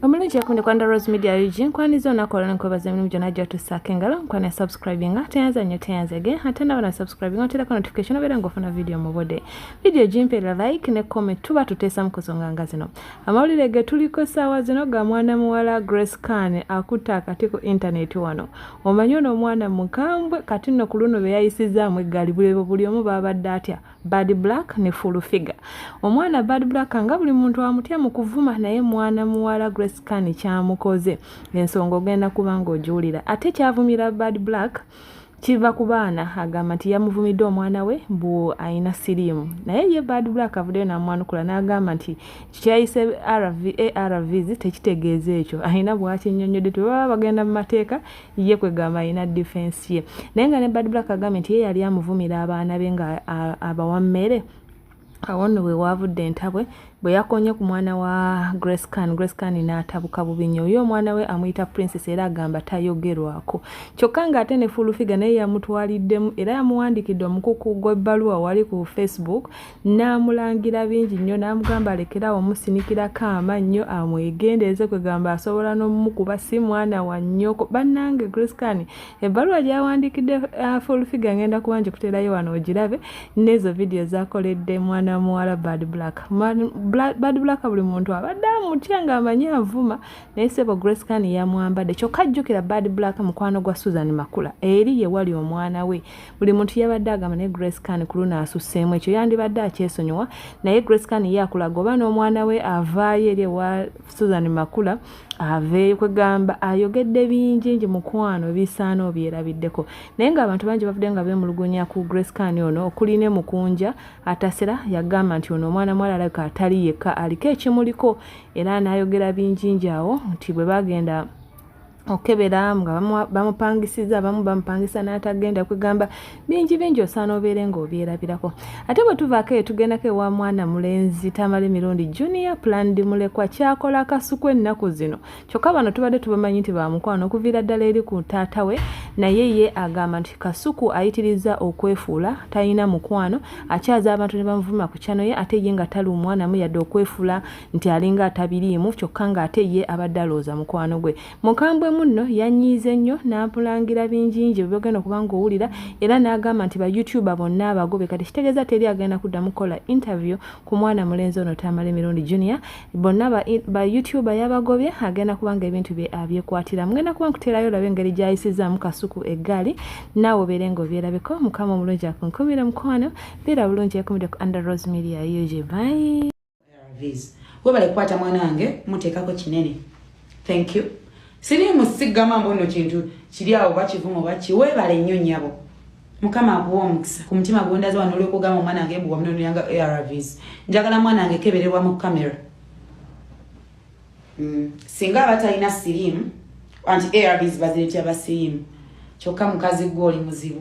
omulungi yakunde kwanda rose media ug nkwaniza olunaku olwo nkwebaza emirimu gyonna gyotusaako engalo nkwana subscribinga teyanza nnyo teyanza ge ate naba na subscribinga oterako notification obeera ngaofuna vidiyo mubode vidiyo gimpeera like ne comment tuba tuteesa mu kusonga nga zino amawulire ge tuliko essaawa zino ga mwana muwala grace can akutta akati ku intaneti wano omanyi ono omwana mukambwe kati nno ku luno beyayisizaamu eggali bulebo buli omu baabadde atya bad black ne full figure omwana bad black nga buli muntu amutya mu kuvuma naye mwana muwala grace kani kyamukoze ensonga ogenda kuba ng'ogiwulira ate kyavumira bad black kiva ku baana agamba nti yamuvumidde omwana we mbu alina siriimu naye ye bad black avuddeyo namwanukula n'agamba nti kikyayise arvs tekitegeeza ekyo alina bwakinyonyodde tebaba bagenda mu mateeka ye kwegamba alina defense ye naye nga ne bad black agambye nti ye yali amuvumira abaana be nga abawa mmere awo nno bwe waavudde entabwe bwe yakonye ku mwana wa grace can grace can n'atabuka bubi nnyo oyo omwana we amuyita princess era agamba tayogerwako kyokka ng'ate ne fulufiga naye yamutwaliddemu era yamuwandiikidde omukuku gw'ebbaluwa wali ku facebook n'amulangira bingi nnyo n'amugamba alekerawo omusinikirako amannyo amwegendereze kwegamba asobola n'omumukuba si mwana wa nnyoko bannange griscan ebbaluwa gyawandiikidde uh, fulfiga ngenda kuba ngikuterayo wano ogirabe n'ezo vidiyo zakoledde mwana wa muwala bad black bad black buli muntu abadde amutya ng'amanyi avuma naye sebo griscan yamwambadde kyokka jjukira bad black mukwano gwa susan makula eri ye wali omwana we buli muntu yabadde agamba naye grace can ku luno asusseemu ekyo yandibadde akyesonyiwa naye grace can ye akulaga oba n'omwana we avaayo eri ewa susan makula aveeyo kwegamba ayogedde bingi ngi mukwano bisaana obyerabiddeko naye ngaabantu bangi bavudde nga beemulugunya ku grace can ono okuli ne mukunja atasera yagamba nti ono omwana mwala alabika atali yekka aliko ekimuliko era n'ayogera bingi ngi awo nti bwe bagenda okukebera nga bamupangisiza abamu bamupangisa n'atagenda kwegamba bingi bingi osaana obeere ng'obyerabirako ate bwe tuvaako eyo tugendako ewa mwana mulenzi tamala emirundi junior plandi mulekwa kyakola akasuku ennaku zino kyokka bano tubadde tubamanyi nti bamukwano okuviira ddala eri ku taata we naye ye agamba nti kasuku ayitiriza okwefuula talina mukwano akyaza abantu ne bamuvuma ku kyano ye ate ye nga tali omwanamu yadde okwefuula nti alinga atabiriimu kyokka ng'ate ye abadde alowooza mukwano gwe mukambwe munno yanyiize nnyo n'amulangira bingingi bwe bagenda okuba ng'owulira era n'agamba nti ba youtuba bonna abagobe kati kitegeeza teri agenda kuddamu kukola interview ku mwana mulenzi ono tamale mirundi junior bonna ba youtuba yabagobye agenda kuba nga ebintu bye abyekwatira mugenda kuba nkuteerayo olabe engeri gyayisizaamu kasuku eggaali naawe obeere ng'obyerabeko mukama omulungi akunkumire mukwano beera bulungi ekumire ku under rose media ug bye webale kukwata mwana wange muteekako kinene thank you siri musigama mbono kintu kiri awo bakivuma oba ki webale nnyo nyabo mukama akuwa omukisa ku mutima gwondaza wano olwokugamba omwana wange mbu wamunonoyanga arvs njagala mwana wange kebererwa mu kamera mm. singa aba talina sirimu anti arvs baziretya basirimu kyokka mukazi gwe oli muzibu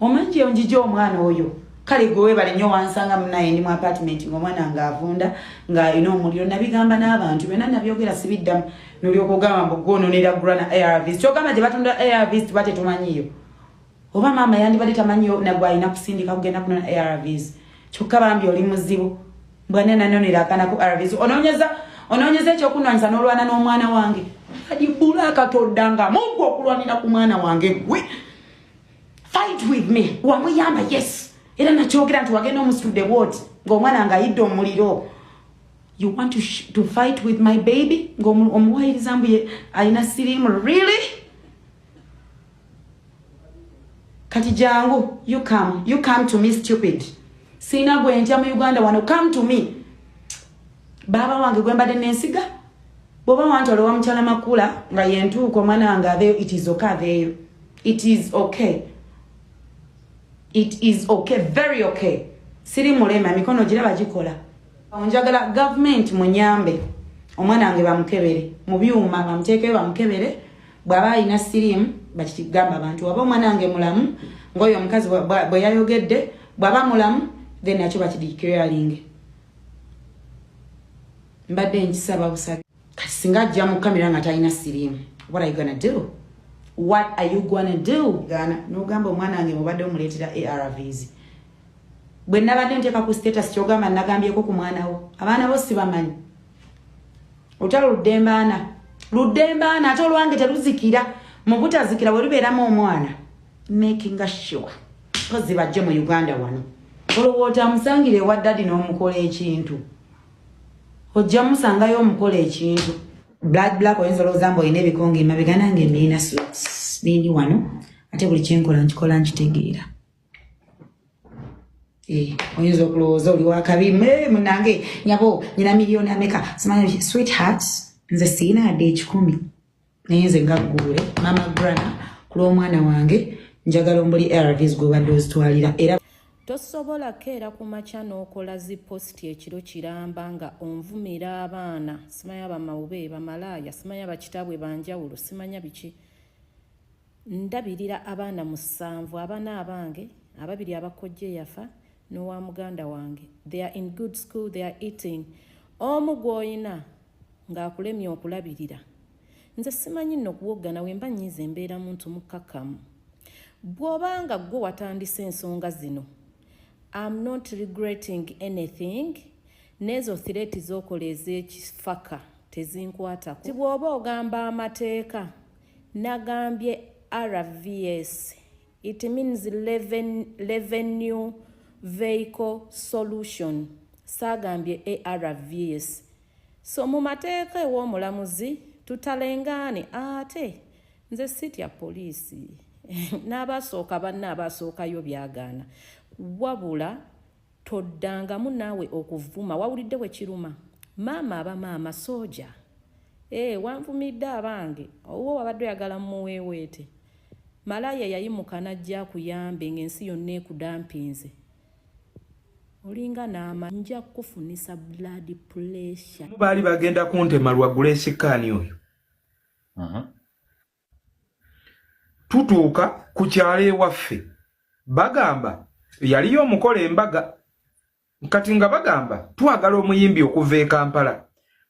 Omanyi gye njija omwana oyo kale gwe webale nnyo wansanga munaye ndi mu apartment ng'omwana nga avunda nga alina omuliro nabigamba n'abantu byonna nabyogera sibiddamu nolyoka ogamba mbu gwononera grana arvs kyogamba gye batunda arvs tuba tetumanyiyo oba maama yandibadde tamanyiyo nagwalina kusindika kugenda kunona arvs kyokka bambi oli muzibu mbwane nanonera akanaku arvs ononyeza ononyeza ekyokunwanyisa n'olwana n'omwana wange kadibula akatodda nga mungu okulwanira ku mwana wange gwe fight with me wamuyamba yes era nakyogera nti wagenda omusitudde bwoti ngaomwana nga ayidde omuliro you want to, to fight with my baby ngaomuwayiriza mbu alina sirimu really kati jangu you come you come to me stupid siina gwentya mu uganda wano come to me baaba wange gwembadde nensiga bwoba wanti olowa mukyala makula nga yentuuka omwana wange aveeyo it is okay aveeyo it is okay it is okay very okay siri mulema emikono gira bagikola njagala gavumenti munyambe omwana wange bamukebere mu byuma bamuteekeyo bamukebere bw'aba alina siriimu bakigamba abantu waba omwana wange mulamu ng'oyo omukazi bwe yayogedde bw'aba mulamu then nakyo bakidikiralinge mbadde nkisaba busabi kati singa ajja mu kamera nga talina siriimu what are you gonna do what are you gonna do gana nogamba omwana wange mubadde omuleetera arvs bwe nabadde nteeka ku status kyogamba nagambyeko ku mwana wo abaana bo sibamanyi olutalo luddembaana luddembaana ate olwange teluzikira mu butazikira we lubeeramu omwana makinga sure mpozi bajje mu uganda wano olowooza amusangire ewa dadi n'omukola ekintu ojja musangayo omukola ekintu blood black oyinza olowooza mbu olina ebikonga emabega nange nina nindi wano ate buli kyenkola nkikola nkitegeera eh, oyinza okulowooza oli wakabi munange nyabo nyina miliyoni ameka sweetheart nze siina adde ekikumi naye nze nga gguule mama grana ku lw'omwana wange njagala ombuli arvs gwobadde ozitwalira era tosobola keera ku makya n'okola zi positi ekiro kiramba nga onvumira abaana simanya bamawube bamalaaya simanya bakitabwe banjawulo simanya biki ndabirira abaana musanvu abana abange ababiri abakojja eyafa n'owa muganda wange they are in good school they are eating omu gw'olina ng'akulemye okulabirira nze simanyi nno okuwoggana wemba nyiiza embeera muntu mukkakkamu bw'oba nga ggwe watandise ensonga zino am not regretting anything n'ezo thireti z'okola ez'ekifaka tezinkwatako ti bw'oba ogamba amateeka Nagambye RVS it means revenue vehicle solution saagambye ARVS so mu mateeka ew'omulamuzi tutalengaane ate nze sitya poliisi n'abasooka banna abaasookayo byagaana wabula Toddangamu naawe okuvvuma wawulidde bwe kiruma maama aba maama sooja. Eeh wanvumidde abange owuwo wabadde oyagala mmuweeweete. Malaaya yayimuka n'ajja akuyambe ng'ensi yonna ekudampinze. Olinga n'ama nja kukufunisa blood pressure. Baali bagenda kuntema lwa Grace Khan oyo. Uh-huh. tutuuka ku kyalo ewaffe bagamba yaliyo omukola embaga kati nga bagamba twagala omuyimbi okuva e kampala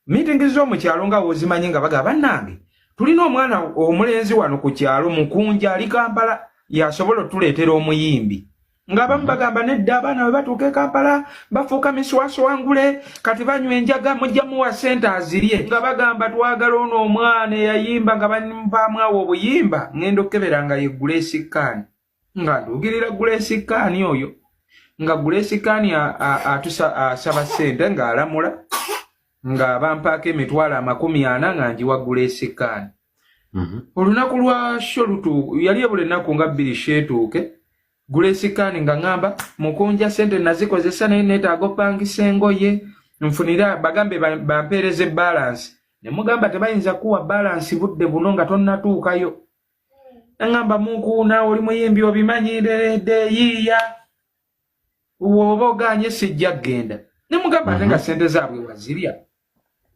miitingi z'omu kyalo nga wozimanyi nga bagamba bannange tulina omwana omulenzi wano ku kyalo mukunja ali kampala yasobola otuleetera omuyimbi ng'abamu bagamba nedda abaana bwe batuuka e kampala bafuuka miswaso wangule kati banywa enjaga mujja muwa sente azirye nga bagamba twagala ono omwana eyayimba nga bampamwawo obuyimba ng'enda okukebera nga ye gulesikaani nga nduugirira gulesikaani oyo nga gulesikaani asaba sente ng'alamula ng'abampaako emitwalo amakumi ana nga njiwa gulesikaani Mhm. olunaku lwa sho lutu yali ebula ennaku nga bbiri sheetuuke gulesikaani nga ŋamba mukunja sente nazikozesa naye neetaaga opangisa engoye nfunira bagambe bampeereza ebbalansi ne mugamba tebayinza kuwa balansi budde buno nga tonnatuukayo naŋamba munkuuna oli muyimbi obimanyireredde yiiya woba oganye sijja kugenda ne mugamba ate nga mhm. sente zaabwe wazirya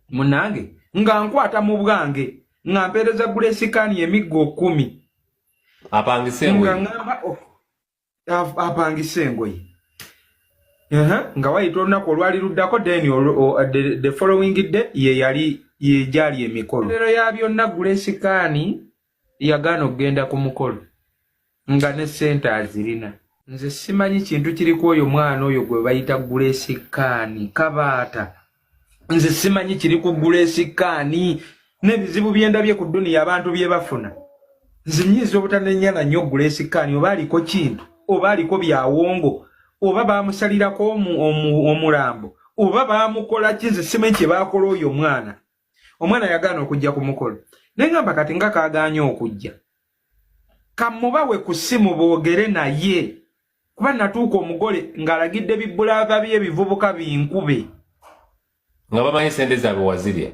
munange nga nkwata mu bwange nga mpeereza gula esikaani emiggo kumi apangise engoye nga wayita olunaku olwali luddako then the following day ye yali yegyali emikolo lero ya byonna gula esikaani yagaana okugenda ku mukolo nga ne ssente azirina nze simanyi kintu kiri ku oyo mwana oyo gwe bayita gulesi kaani kabaata nze simanyi kiri ku gulesi kaani n'ebizibu byendabye ku duniya abantu bye bafuna nze nyinza obutanenyana nnyo gulesi kaani oba aliko kintu oba aliko byawongo oba baamusalirako omulambo oba baamukola ki nze simanyi kye baakola oyo mwana omwana yagaana okujja ku mukolo naye ngamba kati nga kagaanye okujja kamubawe ku ssimu boogere naye kuba natuuka omugole ng'alagidde bibulaava bye bivubuka binkube nga bamanyi sente zaabwe wazirya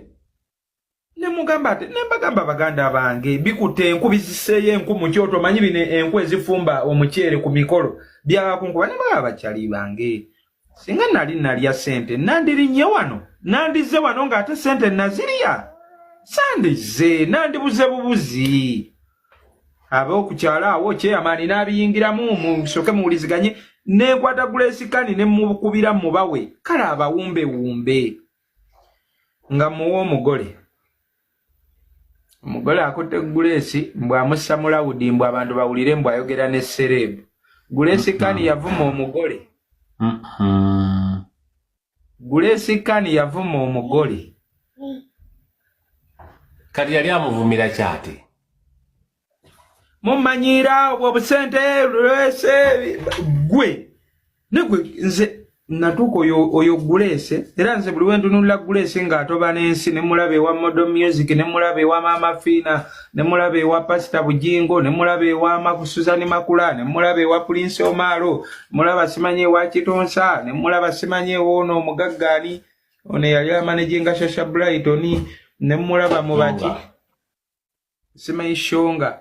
nemugamba ati nembagamba baganda bange bikutte enku biziseeyo enku mu kyoto omanyi bino enku ezifumba omuceere ku mikolo byakunkuba nebaa bakyali bange singa nali nalya sente nandirinye wano nandize wano nga ate sente nazirya sandize nandibuze bubuzi ab'okukyalo awo kyeyamaani n'abiyingiramu musoke muwuliziganye nenkwata gulesikani ne mukubira mubawe kale abawumbewumbe nga muwa omugole omugole akutte guleesi mbu amussa mu lawudi mbu abantu bawulire mbu ayogera ne sereebu guleesi kani yavuma omugole guleesi kani yavuma omugole kati yali amuvumira kyati mumanyiira obwo obusente lwese gwe negwe nze natuuka oyo guleese era nze buli wentunulira guleese ng'atoba n'ensi ne mulaba ewa modo music ne mulaba ewa maama fiina ne mulaba ewa pasita bujingo ne mulaba ewa makusuzani makula ne mulaba ewa pulinsi omaalo mulaba simanyi ewa kitonsa ne mulaba simanyi ewoono omugaggaani ono eyali amanejinga shasha brighton ne mulaba mubaki simanyi shonga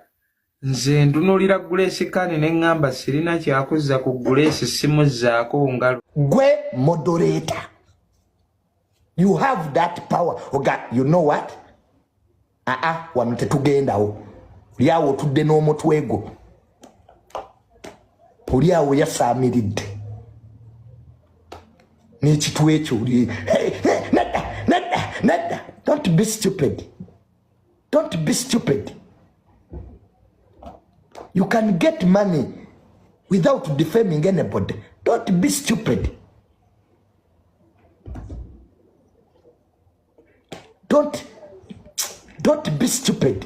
nze ndunulira gulesi kani ne ŋŋamba sirina kyakuzza ku gulesi simuzzaako ngalo gwe modoreta you have that power oga you know what aa ah, ah, wano tetugendawo lyawo otudde n'omutwe gwo oli awo yasaamiridde n'ekitw ekyo oli nedda nedda nedda don't be stupid don't be stupid you can get money without defaming anybody don't be stupid don't don't be stupid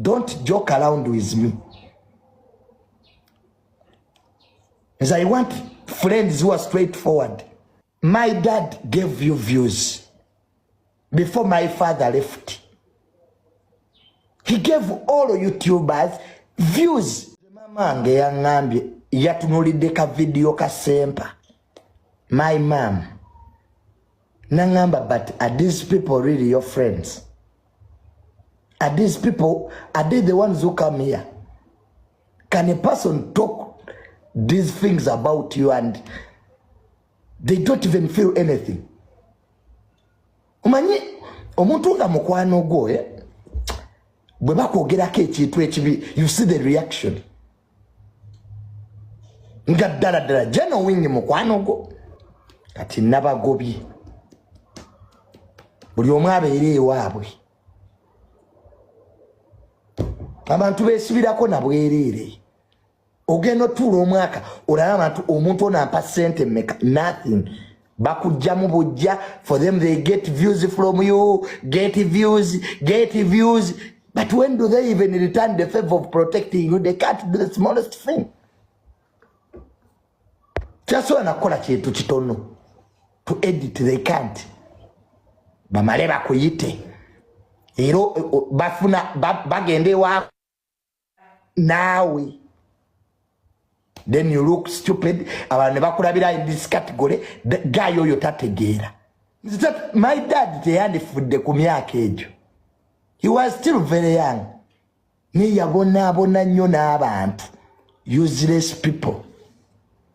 don't joke around with me as i want friends who are straight forward my dad gave you views before my father left he gave all youtubers views mama nge yangambye yatunulidde ka video ka sempa my mom nangamba but are these people really your friends are these people are they the ones who come here can a person talk these things about you and they don't even feel anything omanyi omuntu nga mukwano gwo eh? bwe bakwogerako ekintu ekibi you see the reaction nga ddala ddala janowingi mukwano gwo kati nabagobye buli omu abeere ewaabwe abantu besibirako nabwereere ogenda otuula omwaka olaba abantu omuntu ono ampa sente meka nothing bakujjamu bujja for them they get views from you get views get views but when do they even return the favor of protecting you they can't do the smallest thing kyasobola nakukola kintu kitono to edit they can't bamale bakuyite era bafuna bagenda ewaako naawe then you look stupid abantu ne bakulabira in this category guy oyo tategeera my dad teyandifudde ku myaka egyo he was still very young naye yabonaabona nnyo n'abantu useless people